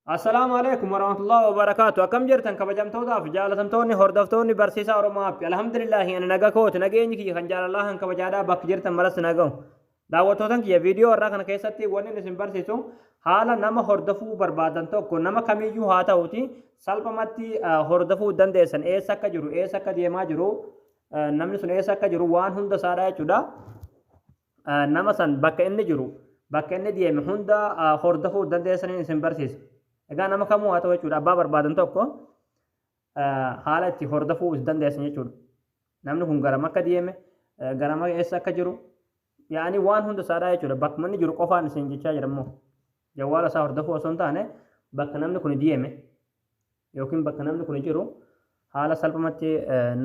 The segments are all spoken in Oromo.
Assalaamu alaikum warahmatullahi wabarakaatu akkam jirtan kabajamtootaaf jaalatamtoonni hordoftoonni barsiisaa Oromoo App alhamdulillahi ani naga kooti nageenyi kiyya kan jaalalaa kan kabajaadhaa bakka jirtan maras nagahu daawwattootan kiyya viidiyoo irraa kana keessatti wanni isin barsiisu haala nama hordofuu barbaadan tokko nama kamiyyuu haa ta'uti salphumatti hordofuu dandeessan eessa akka jiru eessa akka deemaa jiru namni sun eessa akka jiru waan hunda isaadha jechuudha nama san bakka inni jiru bakka inni deeme hunda hordofuu dandeessaniin isin barsiisa. Egaa nama kamuu haa ta'u jechuudha abbaa barbaadan tokko haala itti hordofuu is dandeessan jechuudha. Namni kun garam akka deeme garam eessa akka jiru yaa'anii waan hunda isaadhaa jechuudha bakkuma inni jiru qofaan isin jechaa jira immoo. Jawwaala isaa hordofuu osoo hin taane bakka namni kuni dieme yookiin bakka namni kuni jiru haala salphumatti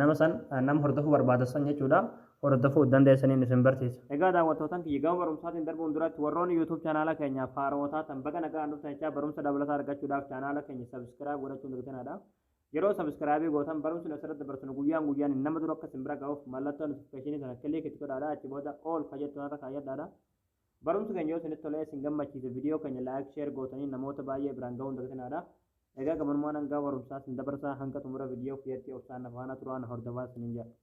nama san nama hordofuu barbaada san jechuudha hordofuu dandeessaniin isin barsiisa. Egaa daawwattootan kiyya gama barumsaatiin darbuun duratti warroonni YouTube chaanaala keenyaaf haarawa taatan baga nagaan dhuftan jechaa barumsa dabalataa argachuudhaaf chaanaala keenya subscribe godhachuun dagitinaadha. Yeroo subscribe gootan barumsi nu asirratti dabarsinu guyyaan guyyaan nama dura akka isin bira ga'uuf mallattoo notification sana click itti godhaadha achi booda all ka jettu kanarra kaayyadhaadha. Barumsi keenya yoo isinitti tolee isin gammachiise video keenya like share gootanii namoota baay'ee biraan gahuu hin dagtinaadha. Egaa gamanumaan hangaa barumsaa isin dabarsaa hanga xumura video kiyyatti obsaan na faana turaa na hordofaa isinin jedha.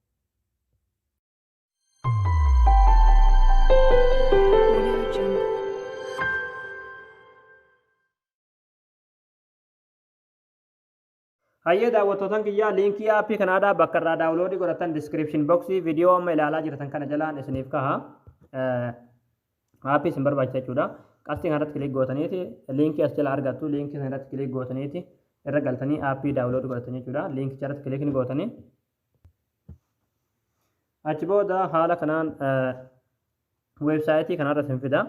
Hayyee daawwattootan kiyyaa liinkii aappii Kanaadaa bakka irraa daawuloodii godhattan description box viidiyoo amma ilaalaa jirtan kana jalaan isiniif kaha. Aappii isin barbaachisa jechuudha. Qastii kanarratti kiliik gootaniiti liinkii as jala argattu liinkii sanarratti kiliik gootaniiti irra galtanii aappii daawuloodii godhattan jechuudha. Liinkicha irratti kiliik ni gootanii. Achi booda haala kanaan weebsaayitii kanarra isin fida.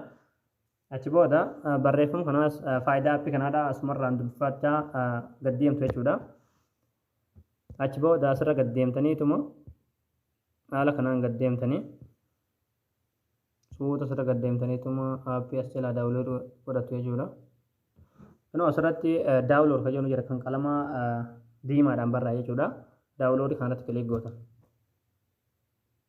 Achi booda barreeffam kanaas faayidaa appii kanaadha asumarraan dubbifachaa gad deemtu jechuudha. Achi booda asirra gad deemtaniituma haala kanaan gad deemtanii suuta asirra gad deemtaniituma appii as jalaa daawulood godhattu jechuudha. Kunoo asirratti daawulood kan jedhu jira kan qalama diimaadhaan barraa'e jechuudha. Daawuloodii kanarratti kiliik goota.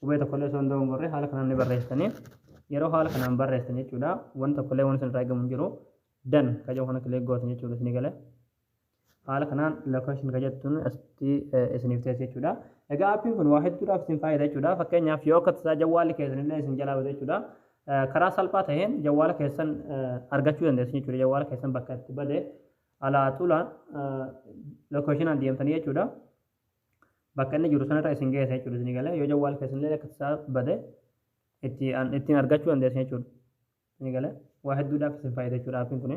Qubee tokkollee osoo hin dogongorre haala kanaan ni barreessitani. Yeroo haala kanaan barreessitan jechuudha wanti tokkollee wanti isinirraa eegamu hin jiru. Dan ka jedhu kana kilik gootan jechuudha isinii gale. Haala kanaan location ka jettuun asitti isiniif teessi jechuudha. Egaa aappiin kun waa hedduudhaaf isin fayyada jechuudha. Fakkeenyaaf yoo akka tasaa jawwaalli keessanillee isin jalaa bade jechuudha. Karaa salphaa ta'een jawwaala keessan argachuu dandeessu jechuudha. Jawwaala keessan bakka itti bade alaa tula location deemtanii jechuudha. bakka inni jiru sanarra isin geessa jechuudha isin galee yoo jawwaal keessanillee akka isaa bade itti an- ittiin argachuu dandeessan jechuudha isin galee waa hedduudhaaf isin fayyada jechuudha appiin kun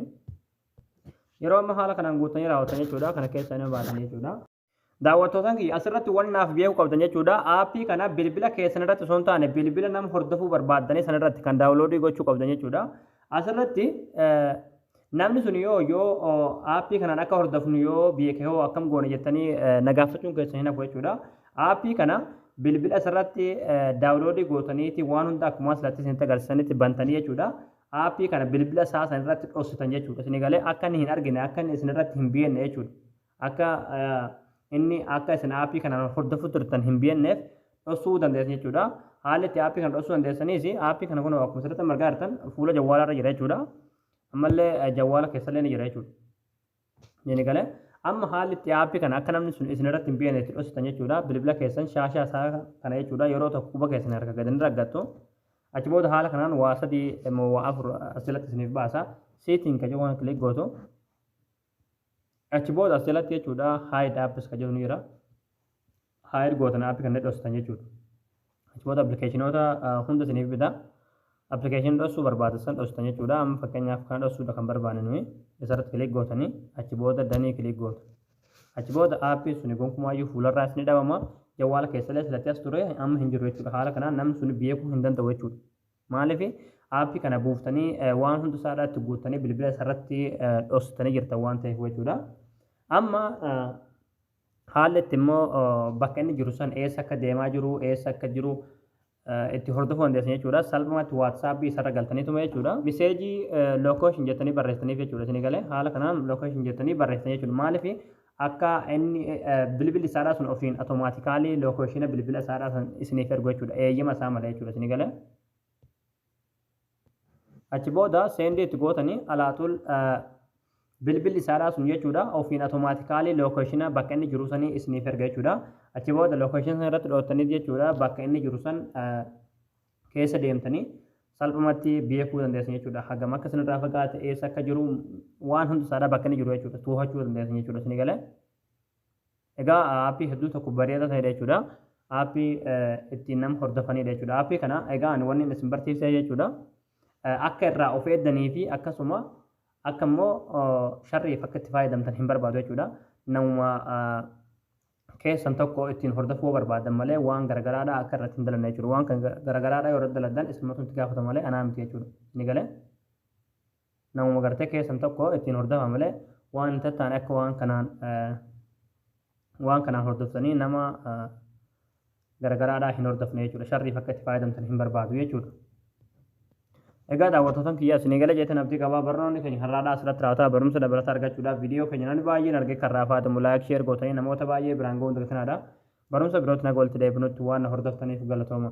yeroo amma haala kanaan guuttanii raawwatan jechuudha kana keessa nama baatan jechuudha. Daawwattootaan kiyya asirratti waan naaf beekuu qabdan jechuudha aappii kana bilbila keessan irratti osoo hin taane bilbila nama hordofuu barbaaddanii sanarratti kan daawunloodii gochuu qabdan jechuudha asirratti eh, Namni sun yoo yoo aappii kanaan akka hordofnu yoo beeke hoo akkam goona jettanii na gaafachuun keessan hin hafu jechuudha. Aappii kana bilbila asirratti daawuloodii gootaniiti waan hunda akkuma asirratti isinitti agarsiisanitti bantanii jechuudha. Aappii kana bilbila isaa san irratti dhossitan jechuudha. Isin galee akka inni hin argine akka inni isin irratti hin beekne jechuudha. Akka inni akka isin aappii kanaan hordofuu turtan hin beekneef dhossuu dandeessan jechuudha. Haalli itti aappii kana dhossuu dandeessanis aappii kana kun akkuma asirratti argaa jirtan fuula jawwaalaa irra jira jechuudha. Ammallee jawwaala keessallee ni jira jechuudha. Ni gale. Amma haalli itti aappii kana akka namni sun isin irratti hin beekne itti dhositan jechuudha. Bilbila keessan shaashaa isaa kana jechuudha yeroo tokko quba keessan harka gadi ni raggattu. Achi booda haala kanaan waa sadii immoo waa afur asirratti isiniif baasa. Seetiin kan jedhu kana kilik gootu. Achi booda as jalatti jechuudha hide apps kan jedhu ni jira. Hide gootan app kan dhostan jechuudha. Achi booda appilikeeshinoota hunda isiniif bita. Appilikeeshinii dhossuu barbaachisan dhostan jechuudha. Amma fakkeenyaaf kana dhossuudha kan barbaanne nuyi. Isarratti kiliik gootanii achi booda danii kiliik gootu. Achi booda aappiin suni gonkumaayyuu fuularraa isin dhabama. Jawwaala keessallee silatti as ture amma hin jiru jechuudha. Haala kanaan namni suni beekuu hin danda'u jechuudha. Maalif app kana buuftanii waan hundi isaadhaa itti guuttanii bilbila isarratti dhossitanii jirtan waan ta'eef jechuudha. Amma haalli itti immoo bakka inni jiru san eessa akka deemaa jiru eessa akka jiru itti hordofuu dandeessan jechuudha. Salphumatti WhatsApp isarra galtanii tuma jechuudha. Miseejii location jettanii barreessitaniif jechuudha isinii galee haala kanaan location jettanii barreessitan jechuudha. Maalif Akka inni bilbil isaadhaa sun ofiin automaatikaalii lookeeshina bilbila isaadhaa san isiniif ergu jechuudha. Eeyyama isaa malee jechuudha isinii galee. Achi booda seendii itti gootanii alaaxul bilbilli isaadhaa sun jechuudha ofiin automaatikaalii lookeeshina bakka inni jiru sanii isiniif erga jechuudha. Achi booda lookeeshina sana irratti dhoottanii jechuudha bakka inni jiru san keessa deemtanii salphumatti beekuu dandeessan jechuudha. Hagam akka isinirraa fagaate, eessa akka jiru, waan hundi isaadhaa bakka inni jiru jechuudha. Toohachuu dandeessan jechuudha. Isinii galee? Egaa aappii hedduu tokko bareedaa ta'edha jechuudha. Aappii ittiin nama hordofanidha jechuudha. Aappii kana egaa ani wanni isin barsiisee jechuudha. Akka irraa of eeddanii fi akkasuma akka immoo sharriif akka itti fayyadamtan hin barbaadu jechuudha. Namuma keessan tokko ittiin hordofuu yoo barbaaddan malee waan garagaraadhaa akka irratti hin dalanne jechuudha. Waan kan garagaraadhaa yoo irratti daladdan isinumatu itti gaafata malee anaa miti jechuudha. Inni galee namuma gartee keessan tokko ittiin hordofa malee waan hin tattaane akka waan kanaan waan kanaan hordoftanii nama garagaraadhaa hin hordofne jechuudha. Sharriif akka itti fayyadamtan hin barbaadu jechuudha. Egaa daawwattootan kiyyaa isinii gala jeetan abdii qabaa barnoonni keenya har'aadhaa asirratti raawwataa barumsa dabalataa argachuudhaaf viidiyoo keenya namni baay'een argee kan raafaatamu laayik sheer gootanii namoota baay'ee biraan ga'uun dirqinaadha. Barumsa birootti naga walitti deebinutti waan na hordoftaniif galatooma.